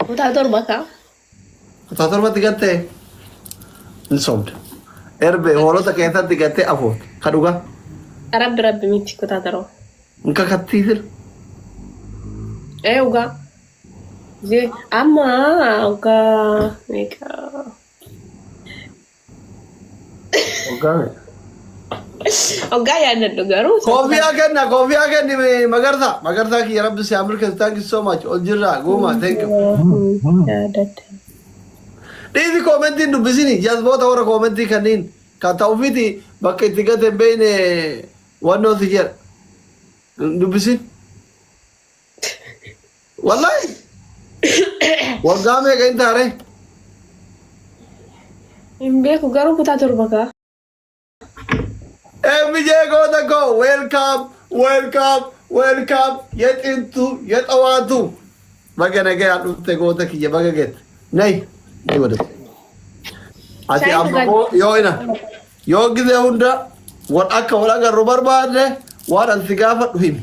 Kutaa torba kaa. Kutaa torbatti gattee hin sobde. Erbee hoolota keessatti gattee afur ka dhugaa Rabbi rabbi miti kutaa torba. hin kakattii sir. Ee ugaa. Amma ugaa meeqa? Waggaa meeqa? Oggaa yaadadhu garuu isa Koofiyaa kenna koofiyaa kenni mee magarsaa magarsaa kiyya rabbi si haa milkeessu thank you so much ol jirraa guumaa thank you. Waafuu yaadadhe. Dhiisi koomentii hin dubbisini jazboota warra koomentii kanniin kan ta ufiiti bakka itti gate hin beeyne wannoo si jedha. Hin dubbisin. Wallahi. Waggaa meeqa hin taare? Hin beeku garuu kutaa torba kaa. MJ goota koo welcome welcome welcome yexintu yexawaatu. Baga nagayaan dhufte goota kiyya baga gette. Nay. Nay wadatu. Ati Shaayi amma dhugaa- moo yoo ina yoo gizee hunda wal akka wal agarru barbaadne waan an si gaafadhu himi.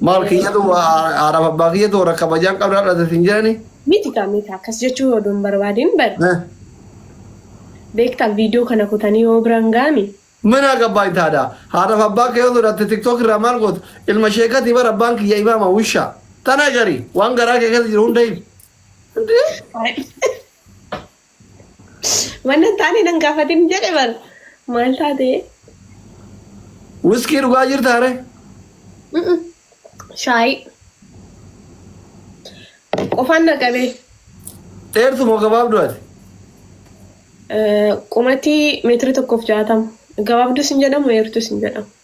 Maal kiyyatu haadhaaf abbaa kiyyatu warra kabajaan qabna dhalate sin jedhani. Miti kaa miti akkas jechuu odoo hin barbaadin bari. Beektaa viidiyoo kana kutanii yoo biraan gaami. Mana gabbaa hin taada. Haadhaaf abbaa kee yoo sodatte tiktok irraa maal gootu? Ilma sheekati bara abbaan kiyya imaama wusha. Tana gari waan garaa kee keessa jiru hunda himi. Wanna hin taane nan gaafatin jedhe bar maal taate? Wiskii dhugaa jirtaa ree? Mm-mm. Shaayii. Qofaan na qabee. Dheertu moo gabaabdu ati? Eh, Qumatii meetira tokkoof jaatama. Gabaabduus hin jedhamu, dheertuus hin jedhamu.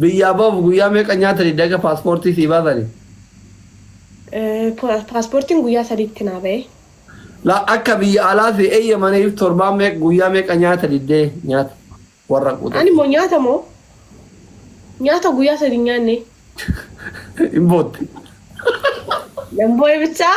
Biyyaa bahuuf guyyaa meeqa nyaatani daga paaspoortii sii baasani? Paaspoortiin guyyaa sadiitti naa bahe. La akka biyya alaa sii eeyyamaniif torbaan meeq guyyaa meeqa nyaata diddee nyaata warra quuxate. Ani moo nyaata moo nyaata guyyaa sadi hin nyaanne. Hin bootte. Nan boo'e bichaa.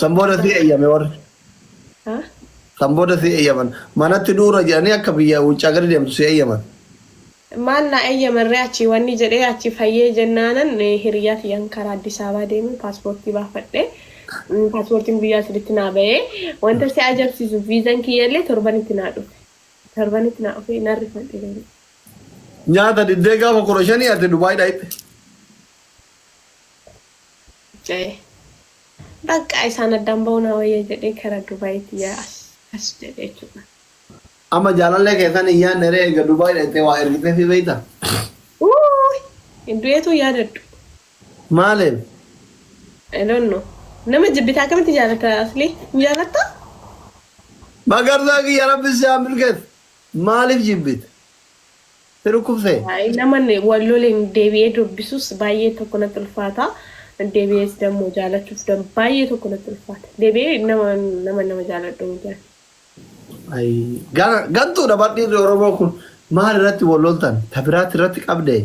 San booda si eeyyame warri. Ha? San booda si eeyyaman. Manatti du'urra jedhanii akka biyya wuccaa gadi deemtu si eeyyaman. Maal naa eeyyamarree achii wanni jedhee achii fayyee jennaanan eh, hiriyyaa tiyyaan karaa Addis Ababaa deemee paaspoortii baafadhe. Mm, Paaspoortiin guyyaa saditti naa bahee. Wanta si ajabsiisu viizan kiyyallee torbanitti naa dhufe. Torbanitti naa dhufee nan rifadhe garuu. Nyaata diddee gaafa kudha shanii ati Dubaay dhayxe. ja'e. Baqqaa isaan addaan ba'uu naa wayya jedhee kara Dubayitti ya as jedhe jechuudha. Amma jaalallee kee san hin yaanne ree eega Dubai dhayxee waa ergiteefii beeyta? Uuuy hin du'eetuu yaadadhu. Maaliif? I don't know. Nama jibbite akkamitti jaalatta Aslii? Hin jaalattaa? Magarsaa kiyya rabbi si haa milkeessu. Maaliif jibbite? Si dhukkubse? Naman wal loleen deebi'ee dubbisus baay'ee tokko natti ulfaata. Deebi'ees dammoo jaalachuuf baay'ee tokko natti ulfaata. Deebi'ee nama nama nama jaaladhu miti ani. Ayii gara gantuudha bar dhiirri Oromoo kun maal irratti wal loltan ta biraatti irratti qabdee?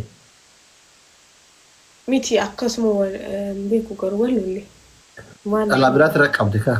Miti akkasuma wal hin beeku garuu wal lolle. Maal Dhalaa biraatti irratti qabde kaa.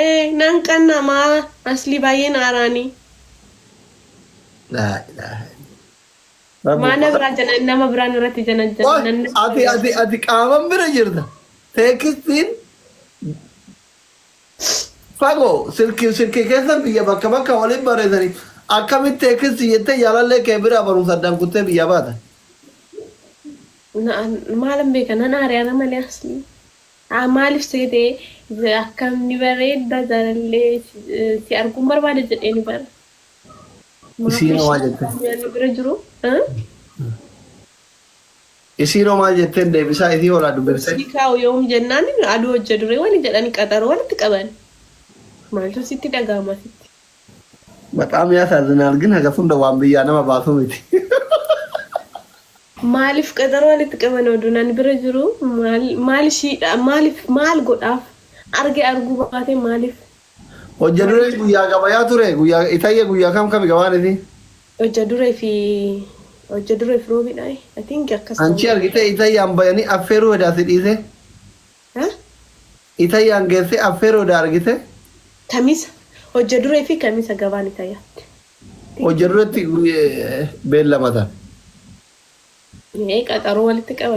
Ee nan qanna ma aslii baay'een aaraani. Laa ilaaha illallah. Maa na biraa janan nama biraa narratti janajjana Qoy nan na ati biraa. ati ati qaaman bira jirta. Teekstiin fagoo silki silki keessan biyya bakka bakka waliin barreessanii akkamitti teekstii jettee jaalallee kee biraa barumsa addaan kuttee biyyaa baata. Na maalan beeka nan aare ana malee aslii. Haa maalif seete akkam ni bareedda jaalallee si arguun barbaada jedheeni bar maaf Isiinoo maal ishii jetteen? addunyaa nu bira jiru Isiinoo maal jetteen deebisaa isii horaa dubbifte? Obsii kaa'u yoom jennaan aduu hojja duree wani jedhan qaxaroo walitti qaban maaltu sitti dhaga'ama sitti. Bexaam yaasaazzinaal gin hagas hunda waan biyyaa nama baasu miti. Maalif qaxaroo walitti qaban oduun an bira jiru maal maal ishii maalif maal godhaaf arge arguu baate maalif Hojja duree walitti guyyaa gabayaa ture guyyaa itayya guyyaa kam kami gabaan isii. Hojja duree fi hojja duree fi roobidha i think akkas ta'uu Anchii danda'a. argitee itayyaan bayanii affeeruu hedaa si dhiisee. Haa? Ita yan gesse affero da argite. Kamisa, hojja dure fi kamisa gabaan ita yaatti. Hojja duretti beellamatan. Ee qaxaroo walitti qabame.